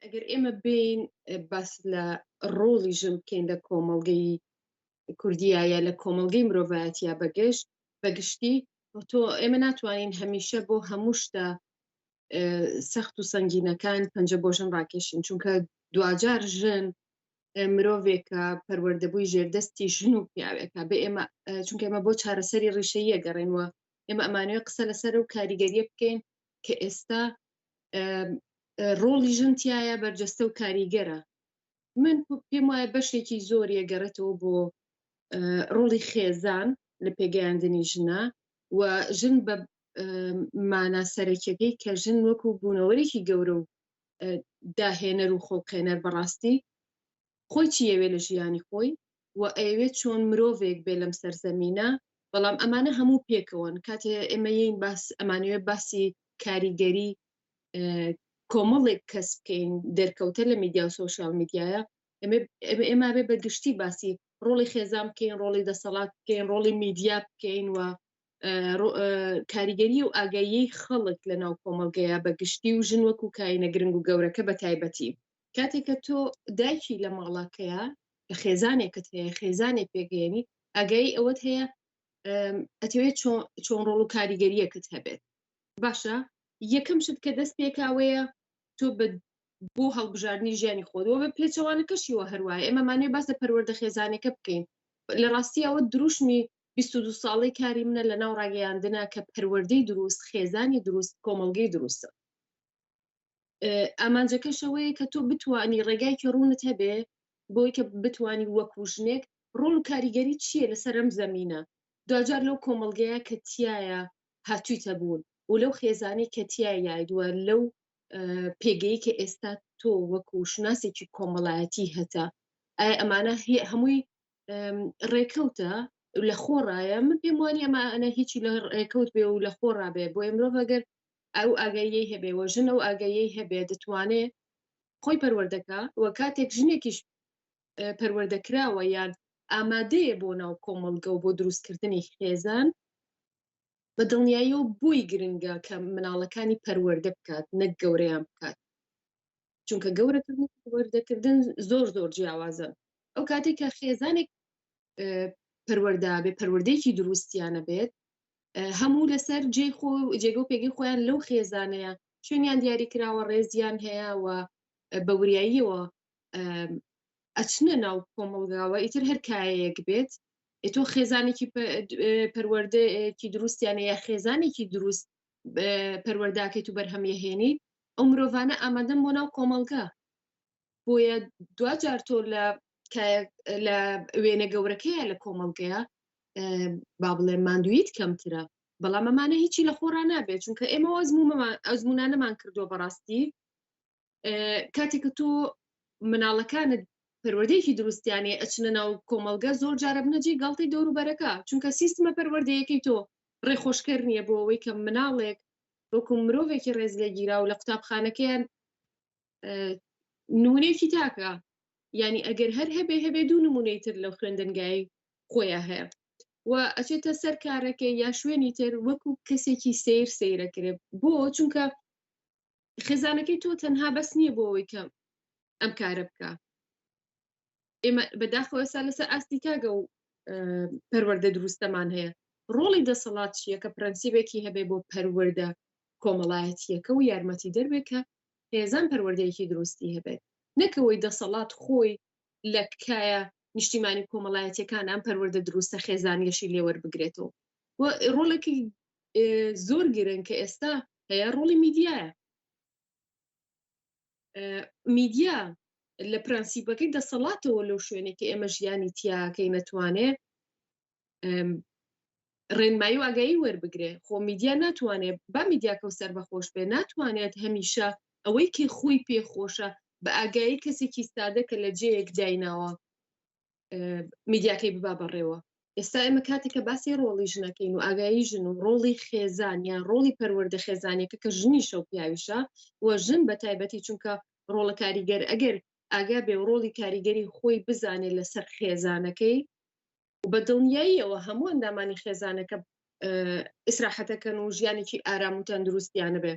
ئەگەر ئێمە بین باس لە ڕۆڵی ژن بکەین لە کۆمەڵگەی کوردیا یا لە کۆمەلگەی مرۆڤایەتیا بەگەشت بەگشتی تۆ ئێمە ناتوانین هەمیشە بۆ هەموو شتە سەخت و سنگینەکان پەنجە بۆ ژن ڕاکێشین چونکە دواجار ژن مرۆڤێکە پەروەردەبووی ژێردەستی ژن و پیاوێکە بە ئێمە چونکە ئمە بۆ چارەسەری ڕیشەیە گەڕێنوە ئێمە ئەمانوێ قسە لەسەر و کاریگەریە بکەین کە ئێستا ڕۆڵی ژن تایە بەرجەستە و کاریگەرە من پێم وایە بەشێکی زۆر یەگەڕێتەوە بۆ ڕۆڵی خێزان لە پێگەیاندنی ژنە و ژن بە مانا سەرەکیەکەی کە ژن وەکو بوونەوەرێکی گەورە و داهێنەر و خۆڵقێنەر بەڕاستی خۆی چی یەوێ لە ژیانی خۆی و ئەیەوێت چۆن مرۆڤێک بێ لەم سەرزەمینە بەڵام ئەمانە هەموو پێکەوەن کاتێ ئێمە یین باس ئەمانوێ باسی کاریگەری کۆمەڵێک کەس بکەین دەرکەوتە لە میدیا و سوۆسیال میدیایە ئێمە بێ بە گشتی باسی ڕۆڵی خێزان بکەین ڕۆڵی دەسەڵات بکەین ڕۆڵی میدیا بکەین و کاریگەری و ئاگایی خەڵک لە ناو کۆمەلگەیە بە گشتی و ژن وەکو کاینە گرنگ و گەورەکە بە تایبەتی کاتێککە تۆ دایکی لە ماڵەکەیە خێزانێکت هەیە خێزانێک پێگەێنی ئەگەی ئەوەت هەیە ئەتەوێت چۆن ڕۆڵ و کاریگەریەکت هەبێت باشە یەکەم شت کە دەست پێکاوەیە تۆ بە بۆ هەڵبژاردننی ژیانی خۆەوە بە پێچەوانەکەشیوە هەروایە ئێمەمانێ باس لە پەروەەردە خێزانەکە بکەین لە ڕاستی ئەوە دروشمی 22 ساڵی کاری منە لە ناو ڕاگەیاندنە کە پەروەردەی دروست خێزانی دروست کۆمەلگەی دروستە ئامانجەکەش ئەوەیە کە تۆ بتانی ڕێگایکی ڕوونت هەبێ بۆی کە بتانی وەکو ژنێک ڕۆڵ و کاریگەری چییە لەسەر ئەم زەمینە دوجار لەو کۆمەلگەیە کە تایە هاتوویتە بوون و لەو خێزانی کە تیا یایدووە لەو پێگەی کە ئێستا تۆ وەکو شناسێکی کۆمەڵایەتی هەتا ئایا ئەمانە هەمووی ڕێکەوتە لە خۆڕایە من پێم وانی ئەمانە هیچی لە ڕێکەوت بێ و لە خۆڕابێ بۆ ئەمرۆڤگەر ئەو ئاگاییەی هەبێ و ژن ئەو ئاگاییەی هەبێ دەتوانێ خۆی پەروەردە کا و کاتێک ژنێکیش پەروەردە کراوە یان ئامادەیە بۆ ناو کۆمەڵگە و بۆ دروستکردنی خێزان بە دڵنیاییەوە بۆی گرنگە کە مناڵەکانی پەروەردە بکات نەک گەورەیان بکات چونکە گەورەکردن و پەروەردەکردن زۆر زۆر جیاوازن ئەو کاتێک کە خێزانێک پەروەردا بێ پەروەردەیەکی دروستیانە بێت هەموو لەسەر جێ خۆ جێگە و پێگەی خۆیان لەو خێزانەیە شوێنیان دیاری کراوە ڕێزیان هەیە و بە وریاییەوە ئەچنە ناو کۆمەڵگاوە ئیتر هەر کایەک بێت تۆ خێزانێکی پەروەردەکی دروستیانە یا خێزانێکی دروست پەروەرداکەیت و بەرهەمیهێنیت ئەو مرۆڤانە ئامادەم بۆ ناو کۆمەڵگە بۆیە دواجار تۆ لە لە وێنە گەورەکەیە لە کۆمەڵگەیە با بڵێ ماندویت کەمترە بەڵام ئەمانە هیچی لە خۆرا نابێت چونکە ئێمە ئەزمومان ئەزمونانەمان کردووە بەڕاستی کاتێک تۆ مناڵەکانت پەروەردەیەکی دروستیانێ ئەچنە ناو کۆمەلگە زۆر جارە بنەجێ گڵتی دەوروبەرەکە چونکە سیستمە پەروەردەیەکەی تۆ ڕێخۆشکەر نییە بۆ ئەوەی کە مناڵێک وەکو مرۆڤێکی ڕێزلێگیرا و لە قوتابخانەکەیان نمونەیەکی تاکە ینی ئەگەر هەر هەبێ هەبێ دوو نمونەی تر لەو خوێندنگای خۆیان هەیە و ئەچێتە سەر کارەکە یا شوێنی تر وەکو کەسێکی سیر سیرەکرێت بۆ چونکە خێزانەکەی تۆ تەنها بەس نییە بۆ ئەوەی کە ئەم کارە بکە ئێمە بەداخەوە ئێستا لەسەر ئاستی تاگە و پەروەەردە دروستەمان هەیە ڕۆڵی دەسەڵات چییە کە پرەنسیبێکی هەبێ بۆ پەروەەردە کۆمەڵایەتیەکە و یارمەتی دەربێت کە هێزان پەروەردەیەکی دروستی هەبێت نەکەوەی دەسەڵات خۆی لە کایە نیشتیمانی کۆمەڵایەتەکان ئەم پەروەەردە دروستە خێزانیەشی لێوەربگرێتەوە و ڕۆڵێکی زۆر گرن کە ئێستا هەیە ڕۆڵی میدیایە میدیا لە پرەنسیپەکەی دەسەڵاتەوە لەو شوێنێک کە ئێمە ژیانی تیاکەی نەتوانێ ڕێنمایی و ئاگایی وەربگرێ خۆ میدیا ناتوانێت با میدیاکە و سەر بەخۆش بێ ناتوانێت هەمیشە ئەوەی کە خۆی پێخۆشە بە ئاگایی کەسێکی سادە کە لە جەیەک دایناوە میدیاکەی ببا بەڕێوە ئێستا ئێمە کاتێک کە باسی ڕۆڵی ژنەکەین و ئاگایی ژن و ڕۆڵی خێزان یان ڕۆڵی پەروەردە خێزانێکە کە ژنی شەو پیاویشە و ژن بە تایبەتی چونکە ڕۆڵە کاریگەر ئەگەر ئاگا بێ و ڕۆڵی کاریگەری خۆی بزانێت لەسەر خێزانەکەی و بە دڵنیاییەوە هەموو ئەندامانی خێزانەکە ئیسراحەتەکەن و ژیانێکی ئارام و تەندروستیانە بێ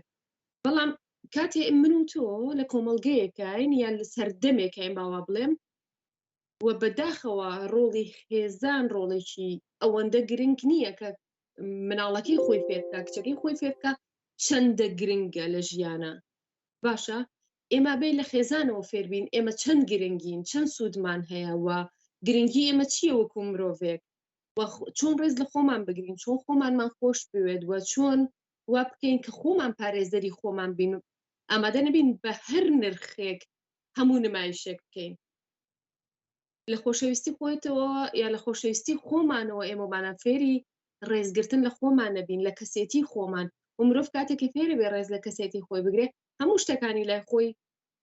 بەڵام کاتێ من و تۆ لە کۆمەلگەیەکین یان لە سەردەمێکین باوا بڵێم و بە داخەوە ڕۆڵی خێزان ڕۆڵێکی ئەوەندە گرنگ نییە کە مناڵەکەی خۆی فێرکە کچەکەی خۆی فێرکە چەندە گرنگە لە ژیانە باشە ئێمە بێ لە خێزانەوە فێربین ئێمە چەند گرنگین چەند سوودمان هەیە و گرنگی ئێمە چییە وەکو مرۆڤێک چۆن ڕێز لە خۆمان بگرین چۆن خۆمانمان خۆش بوێت وە چۆن وا بکەین کە خۆمان پارێزەری خۆمان بین ئامادە نەبین بە هەر نرخێک هەموو نمایشێک بکەین لە خۆشەویستی خۆیتەوە یا لە خۆشەویستی خۆمانەوە ئێمەمانە فێری ڕێزگرتن لە خۆمان نەبین لە کەسێتی خۆمان و مرۆڤ کاتێکی فێری بێ ڕێز لە کەسێتی خۆی بگرێ هەموو شتەکانی لای خۆی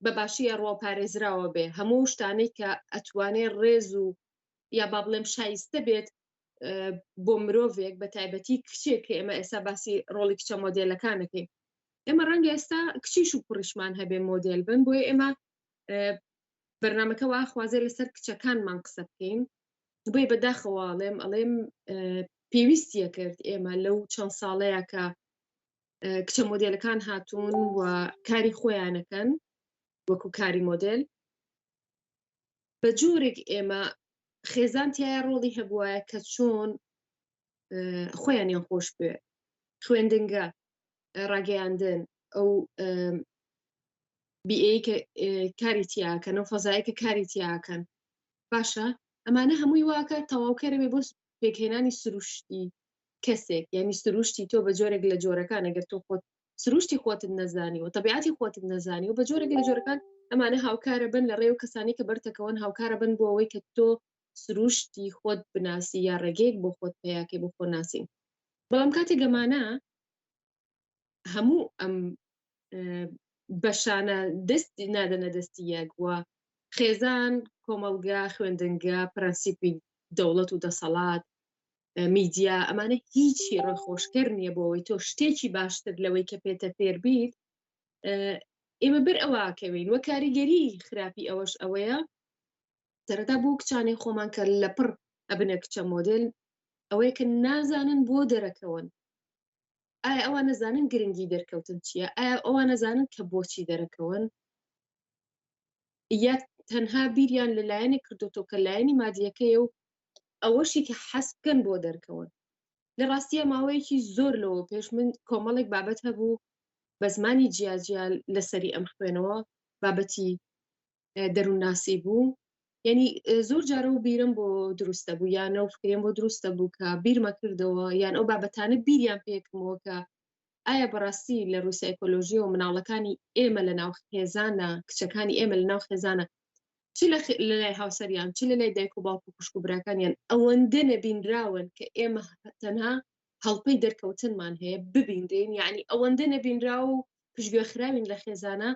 بە باشی ئەڕوا پارێزراوە بێ هەموو شتانەی کە ئەتوانێ ڕێز و یا با بڵێم شایستە بێت بۆ مرۆڤێک بە تایبەتی کچێک کە ئێمە ئێستا باسی ڕۆڵی کچە مۆدیلەکانەکەین ئێمە ڕەنگە ئێستا کچیش و کوڕیشمان هەبێ مۆدیل بن بۆی ئێمە بەرنمەکە واخوازێ لەسەر کچەکانمان قسە بکەین بۆی بەداخەواڵێم ئەڵێم پێویستیە کرد ئێمە لەو چەند ساڵەیە کە کچە مۆدیلەکان هاتوون و کاری خۆیانەکەن وەکو کاری مۆدل بە جۆرێک ئێمە خێزان تایە ڕۆڵی هەبواە کە چۆن خۆیانیان خۆش بێ خوێندنگە ڕاگەیاندن ئەو بیئەی کە کاری تیاکەن و فەزای کە کاری تیاکەن باشە ئەمانە هەمووی واکە تەواوکەرەێ بۆ پێکهێنانی سروشتی کەسێک یعنی سروشتی تۆ بە جۆرێک لە جۆرەکان ئەگەر تۆ خۆت سروشتی خۆتت نەزانی و تەبیعەتی خۆتت نەزانی و بە جۆرە لە جۆرەکان ئەمانە هاوکارە بن لە ڕێ و کەسانی کە بەرتەکەون هاوکارە بن بۆ ئەوەی کە تۆ سروشتی خۆت بناسی یا ڕێگەیەک بۆ خۆت پیاکەی بۆ خۆ ناسین بەڵام کاتی گەمانە هەموو ئەم بەشانە دەستی نادەنە دەستی یەک وە خێزان کۆمەڵگا خوێندنگە پرەنسیپی دەوڵەت و دەسەڵات میدیا ئەمانە هیچی ڕۆخۆشکەر نییە بۆەوەی تۆ شتێکی باشتر لەوەی کە پێتە فێر بیت ئێمە بەر ئەوواکەوین وە کاریگەری خراپی ئەوەش ئەوەیە سەرەتا بۆ کچانەی خۆمان کە لە پڕ ئەبنە کچە مۆدل ئەوەیە کە نازانن بۆ دەرەکەون ئایا ئەوە نەزانن گرنگی دەرکەوتن چییە ئایا ئەوە نەزانن کە بۆچی دەرەکەون یا تەنها بیریان لە لایەنێک کردوتەوە کە لایەنی مادیەکەیە و ئەوەشی کە حەس بکەن بۆ دەرکەون لە ڕاستیە ماوەیەکی زۆر لەوە پێش من کۆمەڵێک بابەت هەبوو بە زمانی جیاجیا لەسەری ئەم خوێنەوە بابەتی دەروونناسی بوو یعنی زۆر جارە و بیرم بۆ دروستە بوو یانە و فکرێن بۆ دروستە بوو کە بیرمە کردەوە یان ئەو بابەتانە بیریان پێکمەوە کە ئایا بەڕاستی لە ڕووسایکۆلۆژیەوە مناڵەکانی ئێمە لە ناو خێزانە کچەکانی ئێمە لە ناو خێزانە چ لە لەلای هاوسەریان چ لەلای دایک و باوک و خوشک و براکانیان ئەوەندە نەبینراون کە ئێمە تەنها هەڵپەی دەرکەوتنمان هەیە ببینرین یعنی ئەوەندە نەبینرا و پشگوێخراوین لە خێزانە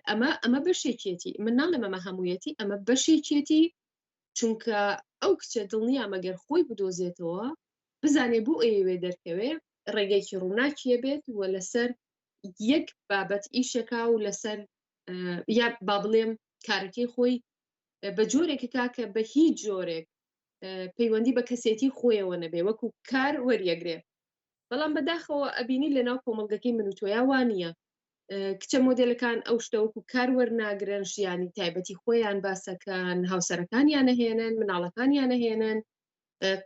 ئەمە ئەمە بەشێکێتی من ناڵێ مەمە هەموویەتی ئەمە بەشێکێتی چونکە ئەو کچە دڵنیامە گەر خۆی بدۆزێتەوە بزانێ بۆ ئەیەوێ دەرکەوێ ڕێگەیەکی ڕووناکیە بێت و لەسەر یەک بابەت ئیشەکە و لەسەر یا با بڵێم کارەکەی خۆی بە جۆرێک کاکە بە هیچ جۆرێک پەیوەندی بە کەسێتی خۆیەوە نەبێ وەکو کار وەریەگرێ بەڵام بەداخەوە ئەبینی لەناو کۆمەلگەکەی من و تۆیاوانە کچە مۆدلەکان ئەو شتەوەکو کار وەرناگرن ژیانی تایبەتی خۆیان باسەکان هاوسەرەکانیان نەهێنن مناڵەکانیان نەهێنن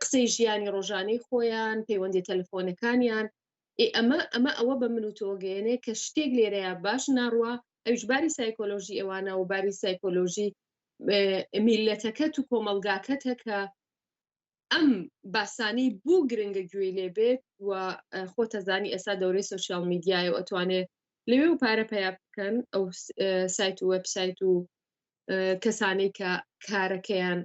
قسەی ژیانی ڕۆژانەی خۆیان پەیوەندی تەلفۆنەکانیان ئەمە ئەمە ئەوە بە من و تۆگەێنێ کە شتێک لێرەیە باش ناڕوە ئەوش باری سایکۆلۆژی ئەوانە و باری سایکۆلۆژی میلەتەکەت و کۆمەلگاکەتە کە ئەم باسانەی بوو گرنگە گوێی لێ بێت و خۆتەزانی ئێستا دەورەی سوسیال میدیایە و ئەتوانێت لەوێ و پارە پیا بکەن ئەو سایت و وبسایت و کەسانەی کە کارەکەیان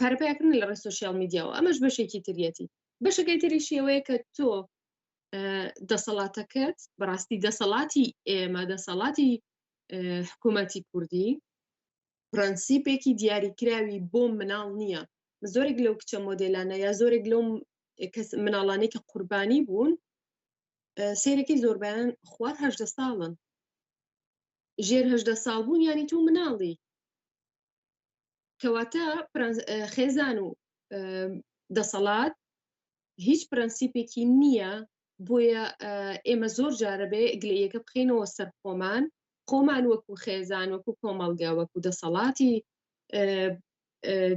پارەپیاکردن لە ڕێ سوسیال میدیاەوە ئەمەش بەشێکی تریەتی بەشەکەی تریشیەوەیە کە تۆ دەسەڵاتەکەت بەڕاستی دەسەڵاتی ئێمە دەسەڵاتی حکوومەتی کوردی پرەنسیپێکی دیاریکراوی بۆ مناڵ نییە زۆرێک لەو کچە مۆدلانە یا زۆرێک لەو مناڵانەی کە قوربانی بوون سێرەکەی زۆربیان خوار هەدە ساڵن ژێر هەدە ساڵ بوون ینی تۆ مناڵی کەواتە خێزان و دەسەڵات هیچ پرەنسیپێکی نییە بۆیە ئێمە زۆر جارە بێ گلەیەکە بخینەوە سەر خۆمان خۆمان وەکو خێزان وەکو کۆمەڵگە وەکو دەسەڵاتی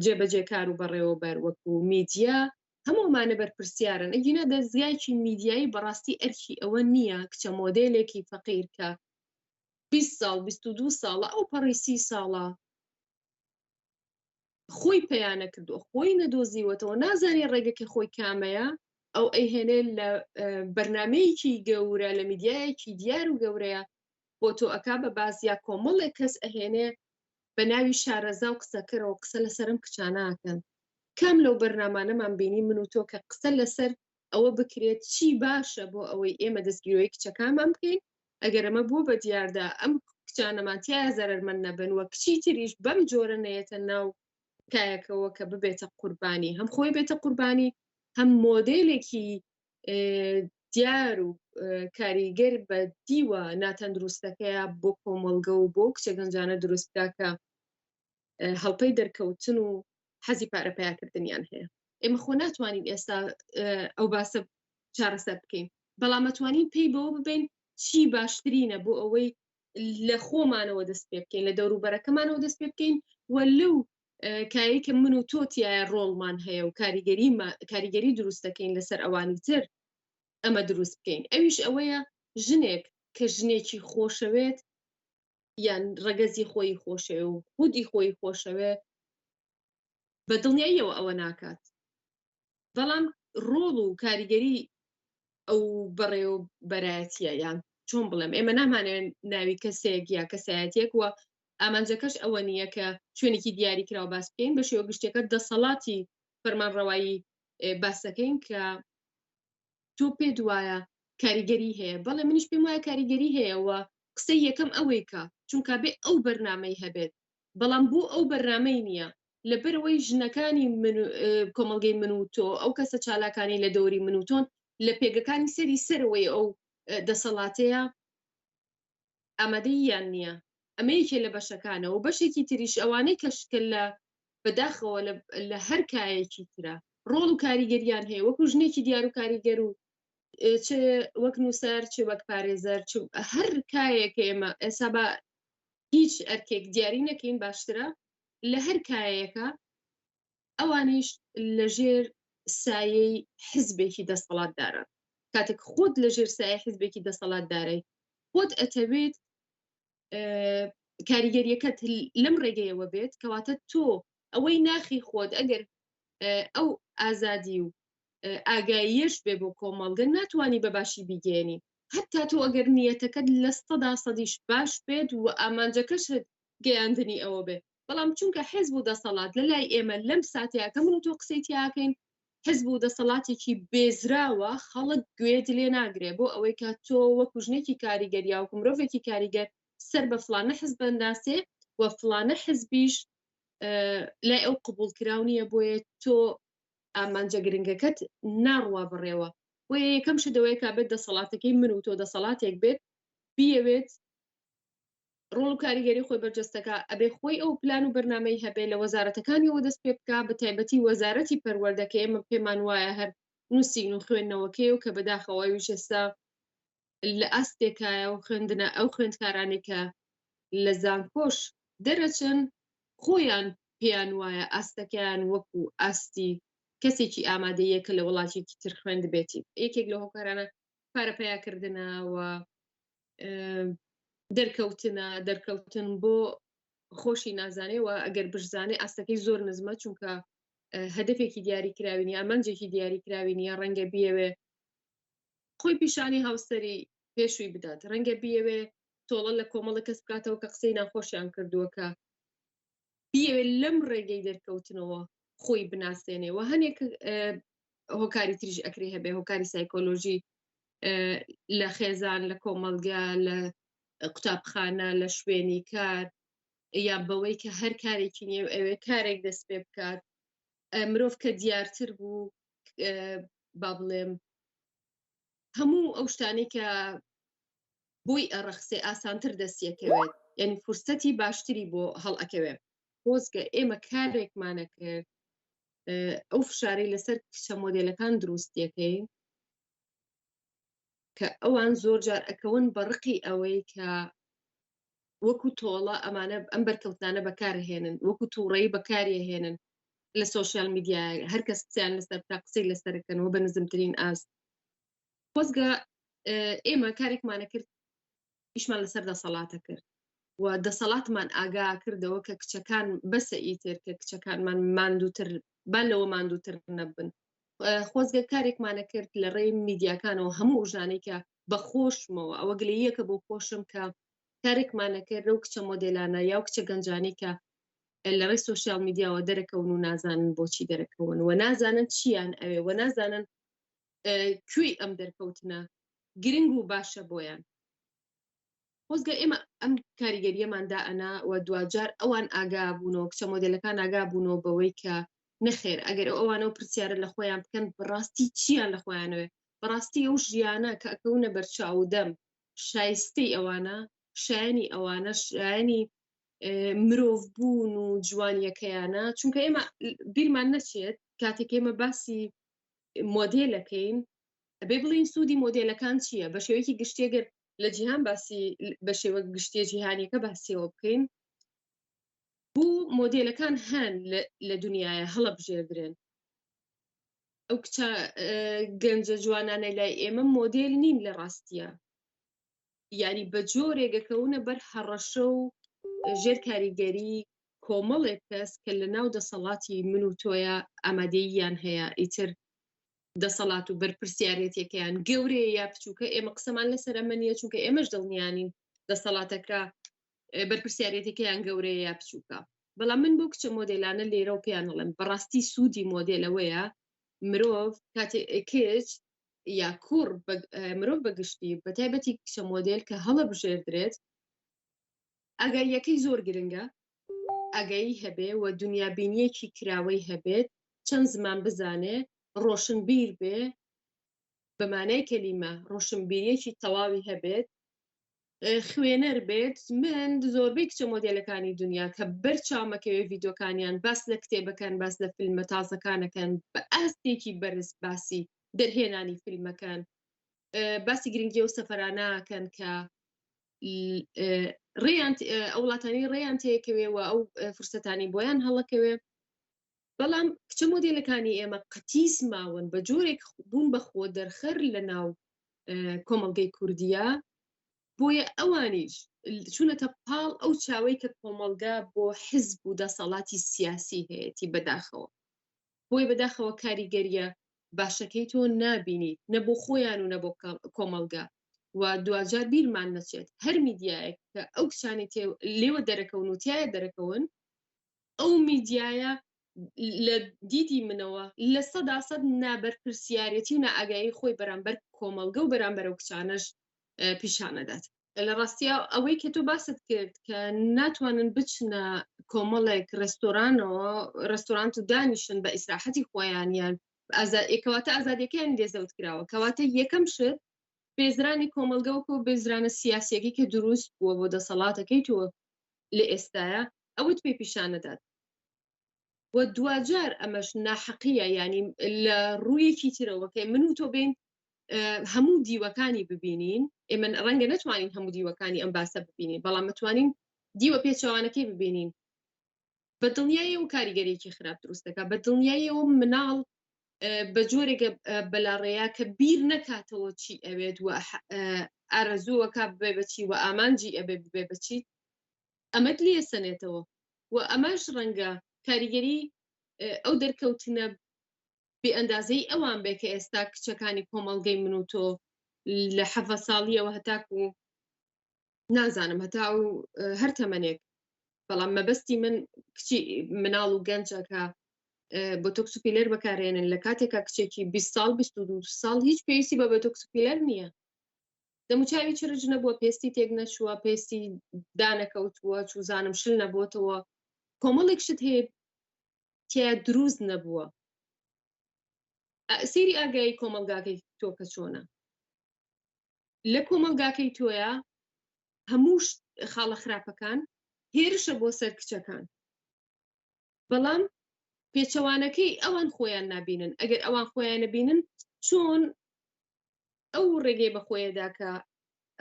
جێبەجێکار و بەڕێوەبەر وەکو میدیا هەموومانە بەرپرسیارن ئەگینا دەستگایکی میدیایی بەڕاستی ئەرکی ئەوە نییە کچە مۆدلێکی فەقیرکە 20 ساڵ 22 ساڵە ئەو پەڕی سی ساڵە خۆی پەیانە کردووە خۆی نەدۆزیوەتەوە نازانێ ڕێگەکە خۆی کامەیە ئەو ئەیهێنێ لە بەرنمەیەکی گەورە لە میدیایەکی دیار و گەورەیە بۆ تۆ ئەک بە باس یا کۆمەڵێک کەس ئەهێنێ بە ناوی شارەزا و قسەکەرەوە قسە لەسرم کچاناکەن کام لەو بەرنمانەمان بینی من و تۆ کە قسە لەسەر ئەوە بکرێت چی باشە بۆ ئەوەی ئێمە دەستگیرۆی کچەکانمان بکەین ئەگەر ئەمە بووە بە دیاردا ئەم کچانەمانتیایە زەرمەند نەبن وە کچی تریش بەم جۆرە نەیەتە ناو کایەکەوە کە ببێتە قوربانی هەم خۆی بێتە قوربانی هەم مۆدلێکی دیار و کاریگەر بە دیوە ناتەندروستەکەیە بۆ کۆمەلگە و بۆ کچە گەنجانە دروستکە کە هەڵپەی دەرکەوتن و حەزی پارە پیاکردنیان هەیە ئێمە خۆ ناتوانین ئێستا ئەو باسە چارەسەر بکەین بەڵامەتوانین پێی بەوە ببین چی باشترینە بۆ ئەوەی لە خۆمانەوە دەست پێ بکەین لە دەوروبەرەکەمانەوە دەست پێ بکەین و لەو کاری کە من و تۆتیایە ڕۆڵمان هەیە و کاریگەری کاریگەری دروست دەکەین لەسەر ئەوانی تر ئەمە دروست بکەین ئەویش ئەوەیە ژنێک کە ژنێکی خۆشەوێت یان ڕەگەزی خۆی خۆشەوێ و خودی خۆی خۆشەوێ بە دڵنیاییەوە ئەوە ناکات بەڵام ڕۆڵ و کاریگەری ئەو بەڕێو بەرایەتە یان چۆن بڵێم ئێمە نامانێن ناوی کەسێک یا کەسایەتێک وە ئامانجەکەش ئەوە نییە کە شوێنێکی دیاری کرا و باس بکەین بە شێوە گشتەکە دەسەڵاتی فەرمانڕەوایی باسەکەین کە تۆ پێت وایە کاریگەری هەیە بەڵێ منیش پێم وایە کاریگەری هەیەەوە قسەی یەکەم ئەوەی کە چونکە بێ ئەو بەرنمەی هەبێت بەڵام بۆ ئەو بەرنمەی نییە لەبەرەوەی ژنەکانی کۆمەلگەی من و تۆ ئەو کەسە چالاکانی لە دەوری من و تۆن لە پێگەکانی سەری سەرەوەی ئەو دەسەڵاتەیە ئامادەیی یان نیە ئەمە یەکێ لە بەشەکانە و بەشێکی تریش ئەوانەی کە شکل لە بە داخەوە لە هەر کایەکی ترا ڕۆڵ و کاریگەریان هەیە وەکو ژنێکی دیار و کاریگەر و چ وەک نووسەر چ وەک پارێزەر هەر کایەک ئێمە ئێسا بە هیچ ئەرکێک دیاری نەکەین باشترە لە هەر کایەکە ئەوانیش لەژێر سایەی حزبێکی دەستەڵاتدارە کاتێک خۆت لەژێر سایە حزبێکی دەسەڵاتدارەی خۆت ئەتەوێت کاریگەریەکەت لەم ڕێگەیەوە بێت کەواتە تۆ ئەوەی ناخی خۆت ئەگەر ئەو ئازادی و ئاگاییەش بێ بۆ کۆمەڵگە ناتوانانی بەباشی بیگەێنی هەتا تۆ ئەگەر نیەتەکەت لە سەدا سەدیش باش بێت و ئامانجەکەشت گەیاندنی ئەوە بێت بەڵام چونکە حزب و دەسەڵات لە لای ئێمە لەم ساتیاکە من و تۆ قسەی تیاکەین حزب و دەسەڵاتێکی بێزراوە خەڵک گوێت لێ ناگرێ بۆ ئەوەی کە تۆ وەکو ژنێکی کاریگەر یاوکو مرۆڤێکی کاریگەر سەر بە فلانە حزب بەنداسێ و فلانە حزبیش لای ئەو قبول کراو نییە بۆیە تۆ ئامانجە گرنگەکەت ناڕوا بڕێوە و یەکەم شدەوەیە کا بێت دەسەڵاتەکەی من و تۆ دەسەڵاتێک بێت بیەوێت ڕۆڵ و کاریگەری خۆی بەرجەستەکە ئەبێ خۆی ئەو پلان و بەرنمەی هەبێ لە وەزارەتەکانیەوە دەست پێ بک بە تایبەتی وەزارەتی پەروەردەکە ئێمە پێمان وایە هەر نووسین و خوێندنەوەکەی و کە بەداخەوەی وشێستا لە ئاستێکایە و خوێندنە ئەو خوێندکارانی کە لە زانکۆش دەرەچن خۆیان پێیان وایە ئاستەکەیان وەکو ئاستی کەسێکی ئامادەیە کە لە وڵاتێکی تر خوێند بێتی یەکێک لە هۆکارانە پارە پیاکردنەوە دەرکەوتنە دەرکەوتن بۆ خۆشی نازانێەوە ئەگەر بشزانێ ئاستەکەی زۆر نزمە چونکە هەدفێکی دیاری کراوین یا منجێکی دیاری کراوین یا ڕەنگە بیەوێ خۆی پیشانی هاوسری پێشووی بدات ڕەنگە بیەوێ تۆڵە لە کۆمەڵە کەس بکاتەوە کە قسەی ناخۆشیان کردووە کە بیەوێت لەم ڕێگەی دەرکەوتنەوە خۆی بناسێنێ و هەنێک هۆکاری تریش ئەکری هەبێ هۆکاری سایکۆلۆژی لە خێزان لە کۆمەلگا لە قوتابخانە لە شوێنی کار یا بەوەی کە هەر کارێکی نیە ئەوێ کارێک دەست پێ بکات مرۆڤ کە دیارتر بوو با بڵێم هەموو ئەو شتانەی کە بۆی ئەڕەخسێ ئاسانتر دەستیەکەوێت یانی فرسەتی باشتری بۆ هەڵئەکەوێ خۆزگە ئێمە کارێکمانە کرد ئەو فشاری لەسەر کچە مۆدلەکان دروستیەکەی کە ئەوان زۆر جار ئەکەون بە ڕقی ئەوەی کە وەکو تۆڵە ئەمانە ئەم بەرکەوتانە بەکارهێنن وەکو تووڕەی بەکارهێنن لە سوۆسیال میدیا هەر کەس قسەیان لەسەر تا قسەی لەسەرکەنەوە بە نزمترین ئاست خۆزگە ئێمە کارێکمانە کرد ئیشمان لەسەر دەسەڵاتە کرد و دەسەڵاتمان ئاگا کردەوە کە کچەکان بەسە ئیتر کە کچەکانمان ماندووتر با لەوە ماندووتر نەبن خۆزگە کارێکمانە کرد لە ڕێی میدیاکانەوە هەموو ژانێکە بە خۆشمەوە ئەوە گلەیەکە بۆ خۆشم کە کارێکمانە کرد لەو کچە مۆدلانە یا و کچە گەنجانی کە لە ڕێی سوسیال میدیاوە دەرەکەون و نازانن بۆچی دەرەکەون و نازانن چیان ئەوێ و نازانن کوێی ئەم دەرکەوتنە گرنگ و باشە بۆیان خۆزگە ئێمە ئەم کاریگەریەمان دائەنا و دوجار ئەوان ئاگا بوونەوە کچە مۆدلەکان ئاگا بوونەوە بەوەی کە نەخێر ئەگەر ئەو ئەوانە و پرسیارە لە خۆیان بکەن بڕاستی چیان لە خۆیانەوە بڕاستی ئەو ژیانە کە ئەکەونە بەرچاودەم شایستەی ئەوانە شایانی ئەوانە شایانی مرۆڤ بوون و جوانیەکەیانە چونکە ئێمە بیرمان نەچێت کاتێک ئێمە باسی مۆدێلەکەین ئەبێ بڵین سوودی مۆدێلەکان چییە بە شێوەیەکی گشتێگەر لە جیهان باسی بە شێوە گشتە جیهانیەکە باسیەوە بکەین بوو مۆدێلەکان هەن لە دنیاە هەڵە بژێردرێن ئەو کچە گەنجە جوانانە لای ئێمە مۆدێل نین لە ڕاستیە یاری بە جۆرێک دەکەونە بەر هەڕەشە و ژێر کاریگەری کۆمەڵێک کەس کە لە ناو دەسەڵاتی من و تۆیە ئامادەییان هەیە ئیتر دەسەڵات و بەرپرسیارەتەکەیان گەورەیە یا بچووکە ئێمە قسەمان لەسەر ئەمە نیە چونکە ئێمەش دڵنیانین دەسەڵاتەکە بەرپرسیارەتەکەیان گەورەیە یا بچووکە بەڵام من بۆ کچە مۆدلانە لێرە و پێیانڵم بەڕاستی سوودی مۆدلەوەیە مرۆڤ کاتێ کچ یا کوڕ مرۆڤ بەگشتی بە تایبەتی کچە مۆدێل کە هەڵە بژێردرێت ئەگەر یەکەی زۆر گرنگە ئەگەی هەبێ و دنیا بینیەکی کراوەی هەبێت چەند زمان بزانێ ڕۆشن بیر بێ بەمانای کەلیمە ڕۆشنبیریەکی تەواوی هەبێت خوێنەر بێت من زۆربەی کچە مۆدێلەکانی دنیا کە بەر چاومەکەوێ ڤیدۆکانیان باس لە کتێبەکەن باس لە فیلمە تازەکانەکەن بە ئاستێکی بەرز باسی دەرهێنانی فیلمەکان باسی گرنگی و سەفراناکەن کە ڕێیان ئەو وڵاتانی ڕێیان تێکەوێ و ئەو فرسەتانی بۆیان هەڵەکەوێ بەڵام کچە مۆدێلەکانی ئێمە قەتیس ماون بە جۆرێک بوون بە خۆ دەرخەر لە ناو کۆمەڵگەی کوردیە بۆیە ئەوانیش چونەتە پاڵ ئەو چاوەی کە کۆمەلگا بۆ حزب و دەسەڵاتی سیاسی هەیەی بەداخەوە بۆی بەداخەوە کاریگەریە باشەکەی تۆ نابینی نە بۆ خۆیان و نە بۆ کۆمەلگا و دوجار بیرمان نەچێت هەر میدیایەک کە ئەو کچانی تێ لێوە دەرەکەون و تایە دەرەکەون ئەو میدیایە لە دیدی منەوە لە سەدا سەد نابەرپرسیارەتی و نائاگایی خۆی بەرامبەر کۆمەڵگە و بەرامبەرەو کچانەش پیشانەدات لە ڕاستیا ئەوەی کە تۆ باست کرد کە ناتوانن بچنە کۆمەڵێک ڕێستۆرانەوە ڕێستۆرانت و دانیشن بە ئیسراحەتی خۆیانیان ئازادکەواتە ئازادەکەیان لێزەوت کراوە کەواتە یەکەم شت بێزرانی کۆمەلگەوەکە و بێزرانە سیاسەکەی کە دروست بووە بۆ دەسەڵاتەکەی تۆ لە ئێستاە ئەوەت پێ پیشان نەدات و دواجار ئەمەش ناحەقیە ینی لە ڕوویەکی ترەوەکەی من و تۆ بین هەموو دیوەکانی ببینین ئێمە ڕەنگە نتوانین هەموو دیوەکانی ئەم باسە ببینین بەڵام متوانین دیوە پێچوانەکەی ببینین بە دڵنیایە و کاریگەرێکی خراپ دروستەکە بە دڵنیایەوە مناڵ بە جۆرێکە بەلاڕێیا کە بیر نەکاتەوە چی ئەوێت و ئارەزووەکە بێ بەچی و ئامانجی ئەبێ بێ بەچی ئەمەت لێ سەنێتەوە و ئەمەش ڕەنگە کاریگەری ئەو دەرکەوتنە بێ ئەندازەی ئەوان بێ کە ئێستا کچەکانی کۆمەڵگەی من و تۆ لە حەفە ساڵیەوە هەتاکو نازانم هەتا و هەر تەمەنێک بەڵام مەبەستی من کچی مناڵ و گەنجەکە بۆ تۆکسپیلەر بەکارێنن لە کاتێکا کچێکی 20 سال 22 ساڵ هیچ پێویستی بە بە تۆکسپیلەر نییە دەموچاوی چرج نەبووە پێستی تێک نەچووە پێستی دانەکەوتووە چوزانم شل نەبووتەوە کۆمەڵێک شت هەیە تیا دروست نەبووە سری ئاگایی کۆمەلگاکەی تۆکە چۆنە لە کۆمەلگاکەی تۆیە هەموو خاڵە خراپەکان هێرشە بۆ سەر کچەکان بەڵام پێچەوانەکەی ئەوان خۆیان نابینن ئەگەر ئەوان خۆیانە بینن چۆن ئەو ڕێگەی بەخۆیەدا کە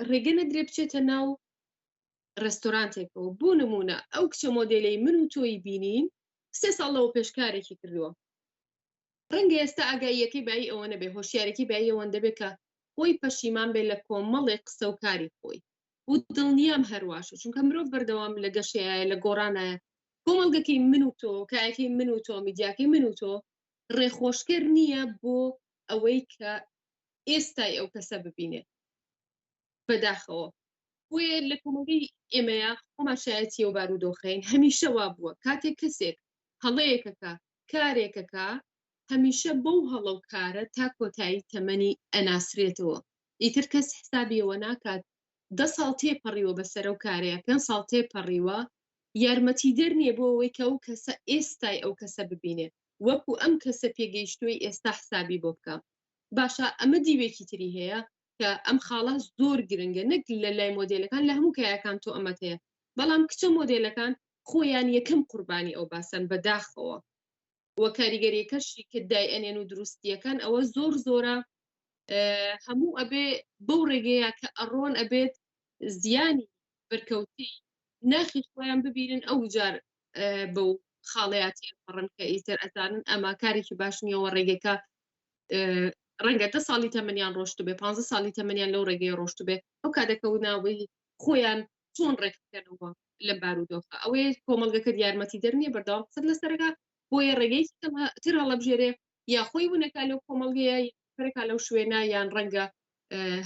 ڕێگە نەدرێ بچێتە ناو ڕێستۆرانتێکەوە بۆ نمونە ئەو کچە مۆدلەی من و تۆی بینین سێ ساڵ لەەوە پێشکارێکی کردووە ڕەنگە ئێستا ئاگاییەکەی بای ئەوە نەبێ هۆشیارێکی بای ئەوەن دەبێت کە خۆی پەشیمان بێ لە کۆمەڵێک قسە و کاری خۆی و دڵنیام هەرواشە چونکە مرۆڤ بەردەوام لە گەشەیە لە گۆڕانایە کۆمەڵگەکەی من و تۆ کایەکەی من و تۆ میدیاکەی من و تۆ ڕێخۆشکەر نییە بۆ ئەوەی کە ئێستای ئەو کەسە ببینێ بەداخەوە بۆیە لە کۆمەڵی ئێمەیە خۆمان شایەتی و بارودۆخین هەمیشە وا بووە کاتێک کەسێک هەڵەیەکەکە کارێکەکە هەمیشە بەو هەڵە و کارە تا کۆتایی تەمەنی ئەناسرێتەوە ئیتر کەس حسابی ئەوە ناکات دە ساڵ تێپەڕیوە بەسەر ئەو کارەیە، پێنج ساڵ تێپەڕیوە، یارمەتیدەر نییە بۆ ئەوەی کە ئەو کەسە ئێستای ئەو کەسە ببینێ وەکو ئەم کەسە پێگەیشتووەی ئێستا حسابی بۆ بکا. باشە ئەمە دیوێکی تری هەیە کە ئەم خاڵە زۆر گرنگە نەک لە لای مۆدێلەکان لە هەموو کایەکان تۆ ئەمەت هەیە بەڵام کچە مۆدێلەکان خۆیان یەکەم قوربانی ئەو باسەن بەداخەوە. و کاریگەریەکەشی کە دای ئەنێن و دروستیەکان ئەوە زۆر زۆرە هەموو ئەبێ بەو ڕێگەیە کە ئەڕۆن ئەبێت زیانی بەرکەوتی ناخی خۆیان ببینن ئەو جار بەو خاڵەتی پڕن کە ئیتر ئەزانن ئەمە کارێکی باش نیەوە ڕێگەکە ڕەنگە دە ساڵی تەمەنیان ڕۆشت بێ پ ساڵی تەمەنیان لەو ڕێگەی ڕۆشت بێ ئەو کاتەکە و ناوەی خۆیان چۆن ڕێک بکەنەوە لەم بارودۆخە ئەوەیە کۆمەڵگەکەت یارمەتی دەرنیە بەردەوام قسەت لەسەرەکە بۆیە ڕێگەی تر هەڵەبژێرێ یا خۆی ونەکە لەو کۆمەڵگەیە پرکا لەو شوێنە یان ڕەنگە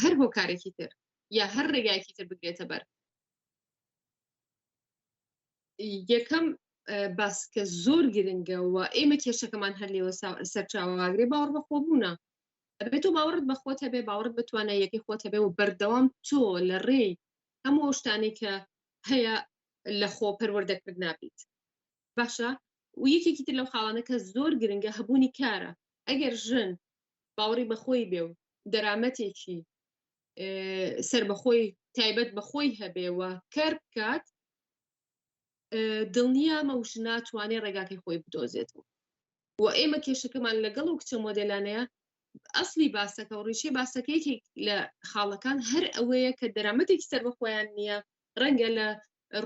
هەر هۆکارێکی تر یا هەر ڕێگایکی تر بگرێتە بەر یەکەم باسکە زۆر گرنگەوە ئێمە کێشەکەمان هەر لێوە سەرچاوەگرێ باوەڕ بە خۆبوونە ئەبێت تۆ باوەڕت بەخۆت هەبێ باوەڕت بتوانە یەکەی خۆت هەبێ و بەردەوام تۆ لە ڕێی هەموو ئەو شتانەی کە هەیە لە خۆ پەروەردەکرد نابیت باشە و یەکێکی تر لەو خاڵانە کە زۆر گرنگە هەبوونی کارە ئەگەر ژن باوەڕی بەخۆی بێ و دەرامەتێکی سربەخۆی تایبەت بەخۆی هەبێ و کار بکات دڵنیامە وش ناتوانێت ڕێگاکەی خۆی بدۆزێتەوە و ئێمە کێشەکەمان لەگەڵ و کچە مۆدلانەیە ئەسلی باسەکە و ڕیشەی باسەکەیەکی لە خاڵەکان هەر ئەوەیە کە دەرامەتێکی سەر بە خۆیان نییە ڕەنگە لە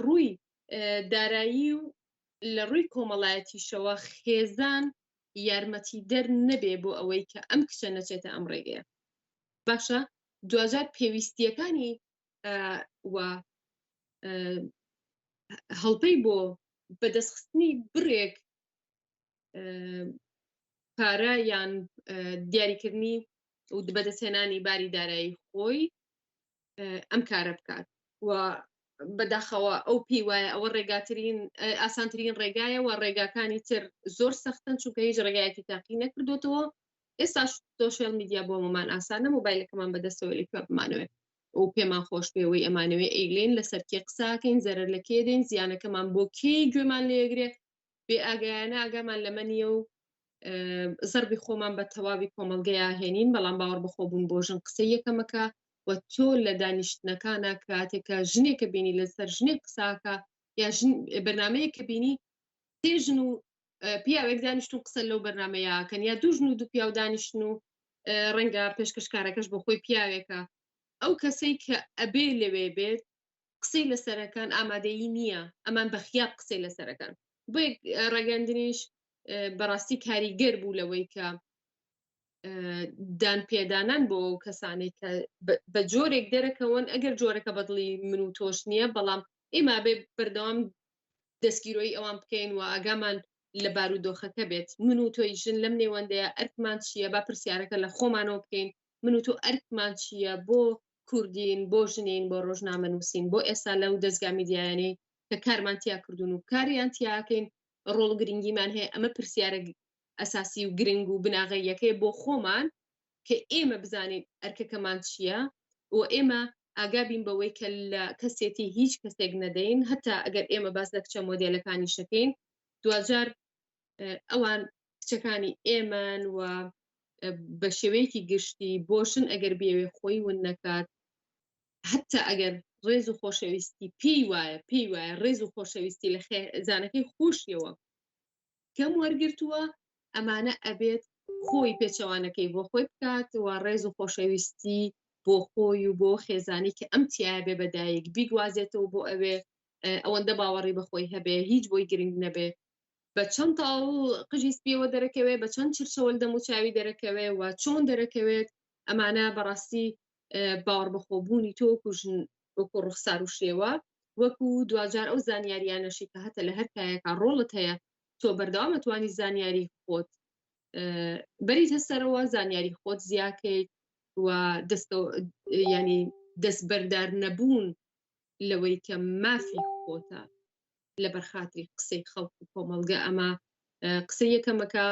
ڕووی دارایی و لە ڕووی کۆمەڵایەتیشەوە خێزان یارمەتی دەر نەبێ بۆ ئەوەی کە ئەم کچە نەچێتە ئەم ڕێگەیە باشە دوجار پێویستیەکانی و هەڵپەی بۆ بەدەستخستنی بڕێک پارە یان دیاریکردنی و بەدەستێنانی باری دارایی خۆی ئەم کارە بکات و بەداخەوە ئەو پێی وایە ئەوە ڕێگاترین ئاسانترین ڕێگایە و ڕێگاکانی تر زۆر سەختن چونکە هیچ ڕێگایەکی تاقی نەکردوێتەوە ئێستاش سۆشیال میدیا بۆ مەمان ئاسانە مۆبایلەکەمان بەدەستەوە لە کوێ بمانەوێت ئەو پێمان خۆش پێوەی ئەمانەوەی ئەیلین لەسەر کێ قساکەین زەرەر لە کێ دێن زیانەکەمان بۆ کێی گوێمان لێگرێ بێ ئاگایانە ئاگامان لەمە نیە و زەربی خۆمان بە تەواوی کۆمەلگەیە هێنین بەڵام باوەڕ بخۆبوون بۆ ژن قسە یەکەمەکە و تۆ لە دانیشتنەکانە کاتێکە ژنێکە بینی لەسەر ژنێک قساکە یا بەرنمەیە کە بینی تێژن و پیاوێک دانیشتون قسە لەو بەرنمەیە کەنیا دوژن و دوو پیاو دانیشتن و ڕەنگە پێشکەشکارەکەش بۆ خۆی پیاوێکە ئەو کەسەی کە ئەبێ لەوێ بێت قسەی لە سەرەکان ئامادەیی نییە ئەمان بەخیاب قسەی لە سەرەکان بۆ ڕاگەندنیش بەڕاستی کاریگەر بوو لەوەی کە دان پێدانان بۆ ئەو کەسانێک کە بە جۆرێک دەرەکەون ئەگەر جۆرەکە بەدڵی من و تۆش نییە بەڵام ئێمە بێ بەردەوام دەستگیرۆی ئەوان بکەین و ئاگامان لە بارودۆخەکە بێت من و تۆی ژن لەم نێوەندەیە ئەرکمان چییە با پرسیارەکە لە خۆمانەوە بکەین من و تۆ ئەرکمان چییە بۆ کوردین بۆ ژنین بۆ ڕۆژنامە نووسین بۆ ئێستا لەو دەستگا میدیایانەی کە کارمان تیا کردوون و کاریان تیاکەین ڕۆڵ گرنگیمان هەیە ئەمە پرسیارە ئەساسی و گرنگ و بناغەیەکەی بۆ خۆمان کە ئێمە بزانین ئەرکەکەمان چییە و ئێمە ئاگا بین بەوەی کە لە کەسێتی هیچ کەسێک نەدەین هەتا ئەگەر ئێمە باس لە کچە مۆدێلەکانی شەکەین دوجار ئەوان کچەکانی ئێمەن و بە شێوەیەکی گشتی بۆشن ئەگەر بێوێ خۆی ون نەکات حتا ئەگەر ڕێز و خۆشەویستی پێی وایە پێی وایە ڕێز و خۆشەویستی لە خێزانەکەی خۆشیەوە کەم وەرگرتووە ئەمانە ئەبێت خۆی پێچەوانەکەی بۆ خۆی بکات و ڕێز و خۆشەویستی بۆ خۆی و بۆ خێزانی کە ئەم تایە بێ بەدایک بیگوازێتەوە بۆ ئەوێ ئەوەندە باوەڕی بەخۆی هەبێ هیچ بۆی گرنگ نەبێ بە چەند تاڵ قژی سپیەوە دەرەکەوێ بە چەند چرچەوەل دەموچاوی دەرەکەوێ و چۆن دەرەکەوێت ئەمانە بەڕاستی باوەڕ بەخۆبوونی تۆکو ژن وەکو ڕوخسار و شێوە وەکو دواجار ئەو زانیاریانەشی کە هەتە لە هەر کایەکە ڕۆڵت هەیە تۆ بەردەوام ئەتوانی زانیاری خۆت بەریت هەسەرەوە زانیاری خۆت زیاکەیت و دەستەوە ینی دەست بەردار نەبوون لەوەی کە مافی خۆتە لە بەرخاتری قسەی خەڵک و کۆمەلگە ئەمە قسە یەکەمەکە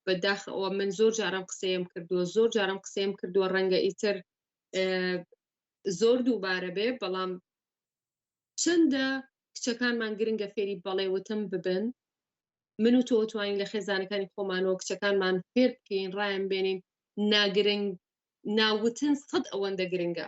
بەداخەوە من زۆر جارم قسەیەم کردووە زۆر جارم قسەیەم کردووە ڕەنگە ئیتر زۆر دووبارە بێ بەڵام چەندە کچەکانمان گرنگە فێری بەڵێ وتن ببن من و تۆ توانین لە خێزانەکانی خۆمانەوە کچەکانمان فێر بکەین ڕایان بێنین ناگرنگ ناوتن سەد ئەوەندە گرنگە